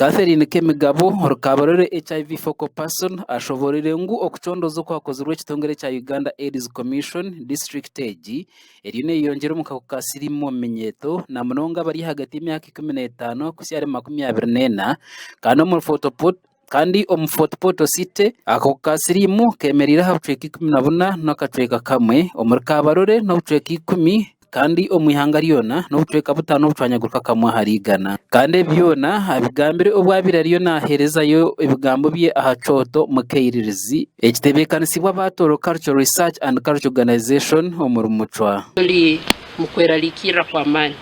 Catherine Kemigabo orikabarore HIV focal person ashoboreire ngu okucondooza okwakozirwe ekitongore kya Uganda Aids Commission district egi eriyo neyeyongyera omu kahuku ka siriimu omu minyeeto na munonga abari ahagati y'emyaka ikumi n'etaano kuhitsya ahari makumi abiri n'ena kandi omu photo Kandi omu Fort-Portal City, akakuku ka siriimu keemereire aha bicweka ikumi na buna n'akacweka kamwe, omuri Kabarole n'obucweka ikumi, kandi omu ihanga ryona n'obucweka butaano obucwanyaguruka kamwe ahari igana. Kandi ebi byona abigambire obu abaire ariyo naaheerezayo ebigambo bye aha kyoto mu Kairirizi, ekitebeekanisibwa aba Toro Cultural Research and Cultural Organization omuri Mucwa. Turi mu kwerarikirira kw'amaani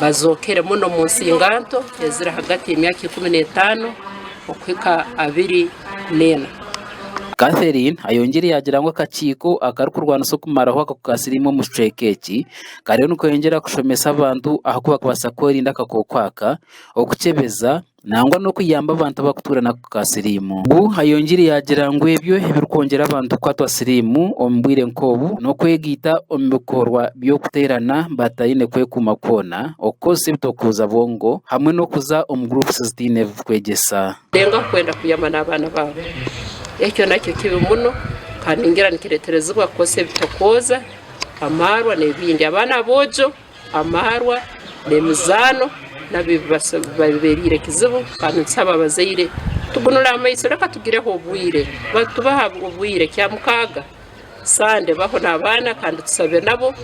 bazookere muno omu nsinganto eziri ahagati y'emyaka ikumi n'etaano okuhika abiri n'ena. Catherine ayongyire yaagira ngu akakiiko akarikurwanisa okumaraho akakukasiriimu omu kicweka eki kariyo nikweyongyera kushomesa abantu aha ku barikubaasa kwerinda akakooko aka, okukyebeza, nangwa n'okuyamba abantu abarikutuura na ka siriimu. Ngu ayongiire yaagira ngu ebyo ebirikwongyera abantu kukwatwa siriimu omu bwire nk'obu n'okwegaita omu bikorwa by'okuteerana bataine kwekuuma kwona, okukozesa ebitokuuza bwongo hamwe n'okuza omu groups zitaine ebikwegyesa. Dengue akwenda kuyama n'abaana baabo. Ekyo nakyo kibi muno kandi ningira nikireeterezibwa kukozesa ebitokuuza, amaarwa n'ebindi. Abaana aboojo amaarwa n'emizaano nabibabereire kizibu kandi nitusaba abazaire tugunule amaiso reka tugireho obwire tubahe obwire kyamukaaga sande baho nabaana kandi tusabe nabo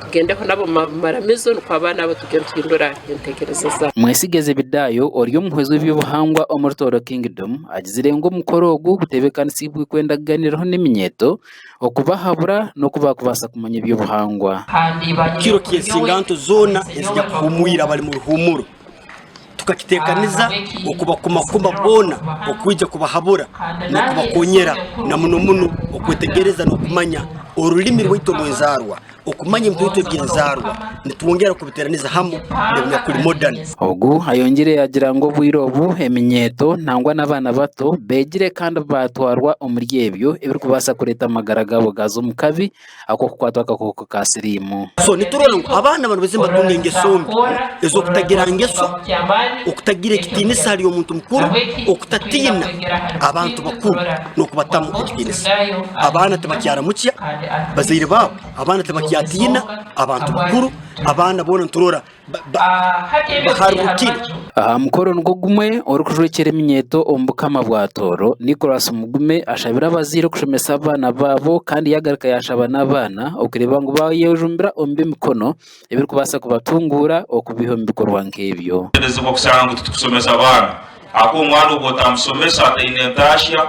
tugendeho nabo mumaramizo nikwo abaana abo tugende tuhindura entekereza zaabo. Mwesige Zebedaayo ori omuhwezi w'ebyobuhangwa omuri Tooro Kingdom agizire ngu omukoro ogu gutebekanisiibwe kwenda kuganiiraho n'eminyeeto okubahabura n'oku baakubaasa kumanya eby'obuhangwa. Kiro ki ensinganto zoona ezija kuhuumwira abari mu ruhuumuro? Tukakiteekaniza okubakumakuma boona okwija kubahabura n'okubakoonyera, na muno muno okwetegereza n'okumanya orurimi rwaitu orw'enzaarwa. Okumanya ebitoito eby'enzaarwa nitwongyera kubiteraniza hamu n'ebinyakuri modern. Ogu ayongyire yagira ngu obwire obu eminyeeto nangwa n'abaana bato begire kandi batwarwa omuri ebyo ebirikubaasa kureeta amagara gaabo gaaza omu kabi ak'okukwatwa akakooko ka siriimu. So niturora ngu abaana banu baize nibatunga engeso mbi ez'okutagira ngeso, okutagira ekitiinisa ahari omuntu mukuru, okutatiina abantu bakuru n'okubatamu ekitiinisa. Abaana tibakyaramukya. Bazaire baabo, abaana tibakyatiina abantu bakuru, abaana boona niturora baharurukire. Aha mukoro nigwo gumwe orikujwekyera eminyeeto omu Bukama bwa Tooro, Nicholas Mugume ashabire abazaire kushomesa abaana baabo kandi yaagaruka yaashaba n'abaana okureeba ngu baayejumbira omu by'emikono. ebirikubaasa kubatunguura okubiiha omu bikorwa nk'ebyo. Nituteberezebwa kushanga ngu titukushomesa abaana ahakuba omwana obu otamushomesa ataine ntashya,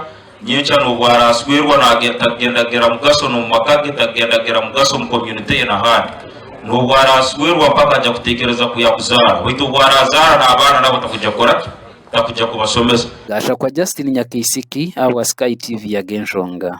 nyenkya n'obu araashwerwa takugenda kugira mugasho n'omu maka ge, takugenda kugira mugasho omu community ye n'ahandi. N'obu araashwerwa mpaka aja kuteekereza ku yaakuzaara. Baitu obu araazaara n'abaana nabo takugya kukora ki? Takugya kubashomesa. Gashakwa Justine Nyakaisiki ahabwa Sky TV yaga enshonga.